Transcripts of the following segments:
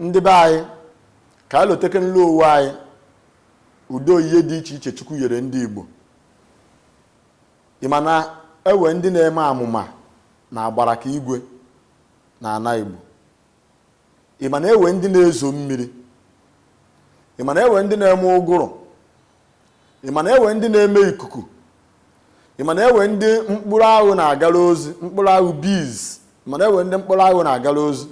ndị be anyị ka anyị lotekenu owe anyị ụdị oyiye dị iche iche chukwu yere ndị igbo ị ma na ewe ndị na-eme amụma na agbara ka igwe na ana igbo ị ma na ewe ndị na-ezo mmiri ị ma na ewe ndị na-eme ụgụrụ ị ma na enwe ndị na-eme ikuku ị ma na enwe ndị mkpụrụ anwụ na-agara ozi mkpụrụ anwụ bees ị ma na enwe ndị mkpụrụ anwụ na-agara ozi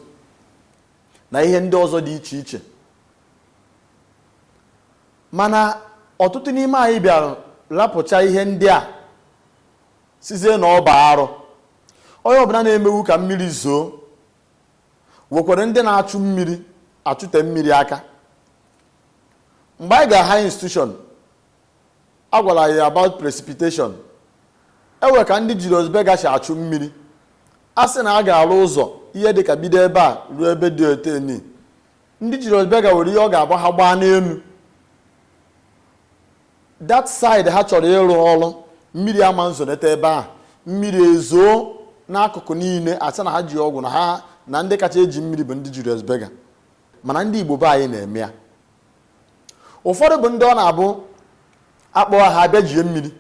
na ihe ndị ọzọ dị iche iche mana ọtụtụ n'ime anyị bịara lapụcha ihe ndị a sịzie na ọ bụ arụ onye ọbụla na-emewu ka mmiri zoo nwekwara ndị na-achụ mmiri achụte mmiri aka mgbe anyị ga high institution a gwara anyị about precipitation enwe ka ndị Julius Berger si achụ mmiri a sị na a ga-arụ ụzọ ihe dị ka bido ebe a ruo ebe dị otu eni ndị Julius Berger nwere ihe ọ ga-abụ ha gbaa n'enu that side ha chọrọ ịrụ ọrụ mmiri ama nzonete ebe ahụ mmiri ezoo n'akụkụ niile a sị na ha ji ọgwụ na ha na ndị kacha eji mmiri bụ ndị Julius Berger mana ndị Igbo be anyị na-eme ya ụfọdụ bụ ndị ọ na-abụ akpọ ha abịa jie mmiri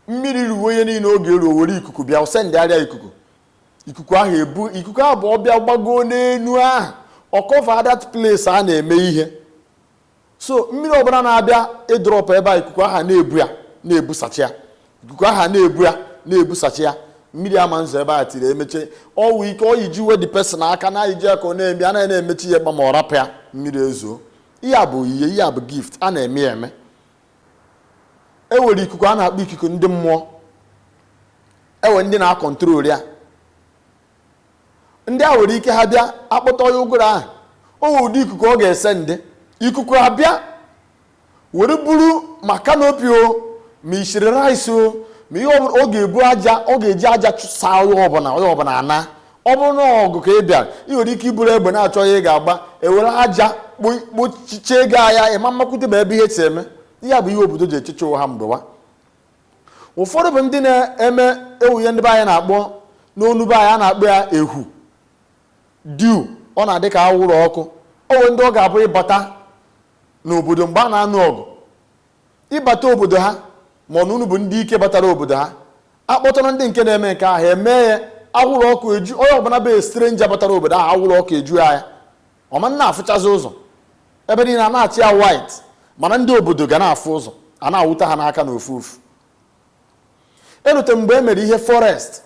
mmiri ruo onye niile oge eruo were ikuku bịa send area ikuku ikuku ahụ ebu ikuku ahụ bụ ọ bịa gbagoo n'enu ahụ ọ cover that place a na-eme ihe so mmiri ọbụla na-abịa ịdrop ebe a ikuku aha na-ebu ya na-ebusacha ya ikuku aha na-ebu ya na-ebusacha ya mmiri ama nzo ebe a till emeche ọwụ ike oyi ji uwe the person aka na iji aka ọ na-eme anaghị na-emechi ya kpam ọ rapụ ya mmiri ezoo ihe a bụ ihe ihe a bụ gift a na-eme ya eme e nwere ikuku a na-akpọ ikuku ndị mmụọ ewe ndị na-acontrol ya ndị a nwere ike ha bịa akpọta onye ụgụrụ ahụ o nwere ụdị ikuku ọ ga-esend ikuku abịa were buru ma canopy o ma i siri rice o ma ihe ọbụla ọ ga-ebu aja ọ ga-eji aja chụsa onye ọbụla onye ọbụla ana ọ bụrụ na ọgụ ka ị bịara ị nwere ike i buru egbe na-achọ ihe ị ga-agba ewere aja kpo- kpochichie gị anya ị ma mmakwute ma ebe ihe si eme ihe a bụ ihe obodo ji echeche owe ha mgbewa ụfọdụ bụ ndị na-eme ewe ihe ndị be anyị na-akpọ n'onu be anyị a na-akpọ ya ehu dew ọ na-adị ka awụrụ ọkụ owe ndị ọ ga-abụ ịbata n'obodo mgbe a na-anụ ọgụ ịbata obodo ha ma na unu bụ ndị ike batara obodo ha akpọtara ndị nke na-eme nke ahụ emee ya awụrụ ọkụ eju onye ọbụla bụ stranger batara obodo ahụ awụrụ ọkụ eju ya ọ ma na-afụchazi ụzọ ebe niile a na-acha ya white mana ndị obodo ga na-afụ ụzọ a na-anwụta ha n'aka na ofu ofu erute mgbe e mere ihe forest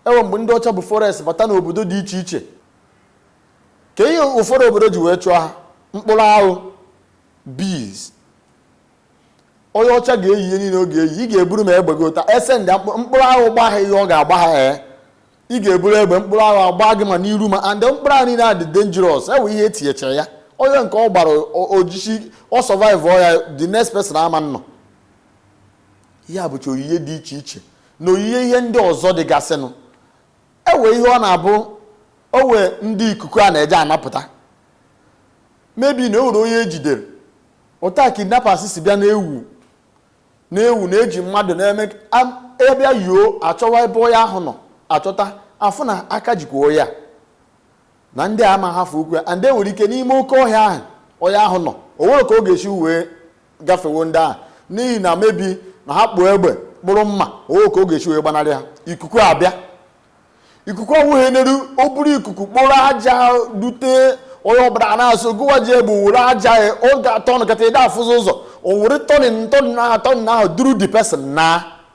e nwee mgbe ndị ọcha bụ forest bata n'obodo dị iche iche ka ihe ụfọdụ obodo ji wee chụọ ha mkpụrụ aṅụ bees onye ọcha ga-eyi ihe niile ọ ga-eyi ị ga-eburu ma egbe gị ụta e sendi mkpụrụ aṅụ gba ha ihe ọ ga-agba ha ee ị ga-eburu egbe mkpụrụ aṅụ agba gị ma n'iru ma and mkpụrụ aṅụ niile a dị dangerous e nwee ihe e tinyechara ya onye nke ọ gbara ojiji ọ survive ọ ya the next person ama nnọ ihe a bụcha onyinye dị iche iche na onyinye ihe ndị ọzọ dịgasịnụ e nwee ihe ọ na-abụ o nwee ndị ikuku a na-eje anapụta maybe na o nwere onye e jidere otu a kidnappers si bịa na-ewu na-ewu na eji mmadụ na maybe yuo achọwa ebe onye ahụ nọ achọta afụ na aka jikwa ya na ndị a ma hafụkwa ndị nwere ike n'ime oke ọhịa ahụ onye ahụ nọ o nwere ka ọ ga-esi wee gafewo ndị ahụ n'ihi na maybe na ha kpụ egbe kpụrụ mma o nwere ka ọ ga-esi wee gbanarị ha ikuku abịa ikuku ọnwụghị n'elu o buru ikuku kporo aja dute onye ọbụla a na-asụ gịwa ji egbe were aja ya oge a-turn kata ịda afụzi ụzọ o were turning turning ahụ turning ahụ duru the person na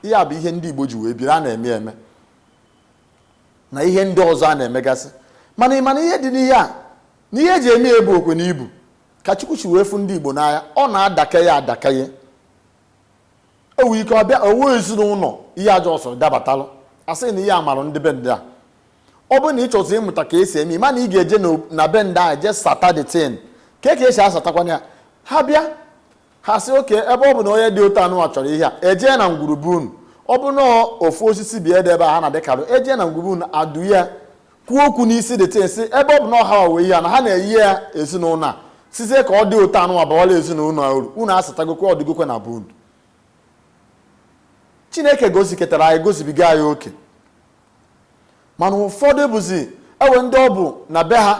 ihe a bụ ihe ndị igbo ji wee biri a na-eme eme na ihe ndị ọzọ a na-emegasị mana ị ma na ihe dị n'ihe a na ihe eji eme ya bụ okwu ọnụ ibu ka chukwu si wee fụ ndị igbo n'anya ọ na-adaka ya adaka ya enwe ike ọ bịa o nwee ezinụlọ ihe ajọ ọsọ dabatalụ a sị na ihe a marụ ndị be ndị a ọ bụrụ na ị chọzi ịmụta ka esi eme mana ị ga-eje na be ndị a jee sata the thing ka ka esi asatakwana ya ha bịa ha sị okay ebe ọ bụ na onye dị otu anụwa chọrọ ihe a ejee na ngwurube unu ọ bụ na ofu osisi bi ede ebe a ha na-adịkarụ ejee na ngwurube unu adụ ya kwuo okwu n'isi the thing sị ebe ọ bụ na ọ ha nwe ihe a na ha na-enye ya ezinụlọ a sizie ka ọ dị otu anụ abawala ezinụlọ a uru unu asatagokwe ọdịgokwe na bụ unu chineke goziketara anyị gozibiga anyị oke mana ụfọdụ bụzi o nwee ndị ọ bụ na be ha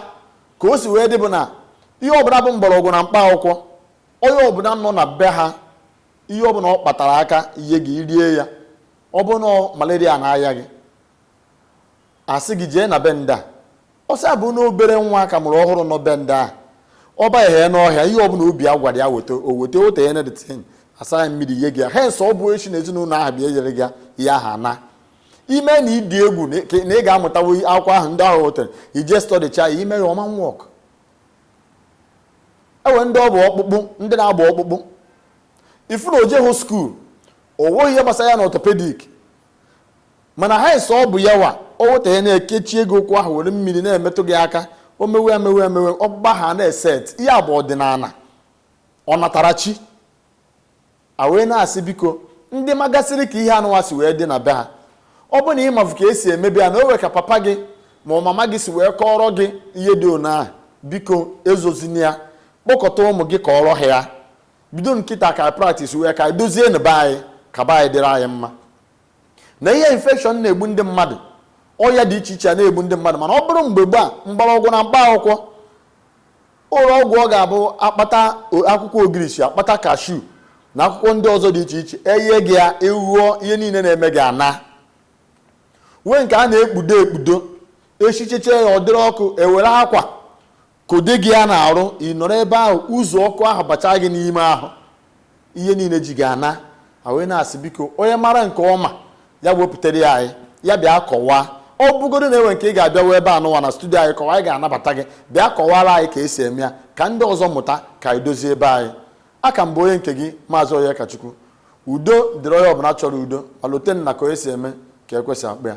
ka o si wee dị bụ na ihe ọbụla bụ mgbọrọgwụ na mkpa akwụkwọ onye ọbụla nọ na be ha ihe ọbụla ọ kpatara aka nye gị rie ya ọ bụ na malaria na-aya gị a sị gị jee na be ndị a ọsị a bụ na obere nwa a ka mụrụ ọhụrụ nọ be ndị a ọ banye n'ọhịa ihe ọbụla obi ya gwara ya weta o weta o tinye na the thing asa ya mmiri nye gị ya hence ọ bụ echi na ezinụlọ ahụ bịa enyere gị ya aha na ime na ịdị egwu na ị- na ị ga-amụtawo akwụkwọ ahụ ndị ahụ wetere i jee studycha ya i mee ya ọ ma work o nwee ndị ọ bụ ọkpụkpụ ndị na-agba ọkpụkpụ ị fụ na o jeghụ school o nweghị ihe gbasara ya na orthopedic mana ha ese ọ bụ ya wa o weta ya na-ekechie gị ụkwụ ahụ were mmiri na-emetụ gị aka o mewe emewe emewe ọkpụkpụ ahụ na-eset ihe a bụ ọdịnala ọnatarachi a wee na-asị biko ndị magasịrị ka ihe anụwa si wee dị na be ha ọ bụ na ị mafu ka esi emebu ya na o nwe ka papa gị ma ọ mama gị si wee kọọrọ gị ihe dị ona ahụ biko ezozina ya kpọkọta ụmụ gị kọọrọ ha ya bido kịta ka practise wee ka dozie na be anyị ka be anyị dịrị anyị mma na ihe infection na-egbu ndị mmadụ ọya dị iche iche a na-egbu ndị mmadụ mana ọ bụrụ mgbe gboo mgbọrọgwụ na mkpa akwụkwọ ụlọ ọgwụ ọ ga-abụ akpata akwụkwọ ogirisi akpata kashu na akwụkwọ ndị ọzọ dị iche iche enye gị ya ị ṅụọ ihe niile na-eme gị anaa nwee nke a na-ekpudo ekpudo esichecha ya ọ dịrị ọkụ ewere akwa kpudo gị ya n'arụ ị nọrọ ebe ahụ uzu ọkụ ahụ bachaa gị n'ime ahụ ihe niile ji gị anaa a wee na-asị biko onye mara nke ọma ya wepụtara ya anyị ya bịa kọwaa ọ bụgodu na e nwe nke ị ga-abịa wee ebe anụwa na studio anyị kọwa anyị ga-anabata gị bịa kọwara anyị ka esi eme ya ka ndị ọzọ mụta ka anyị dozie be anyị a ka m bụ onye nke gị maazị Onyekachukwu udo dịrị onye ọbụla chọrọ udo ma lote na ka onye si eme ka ekwe si akpọ ya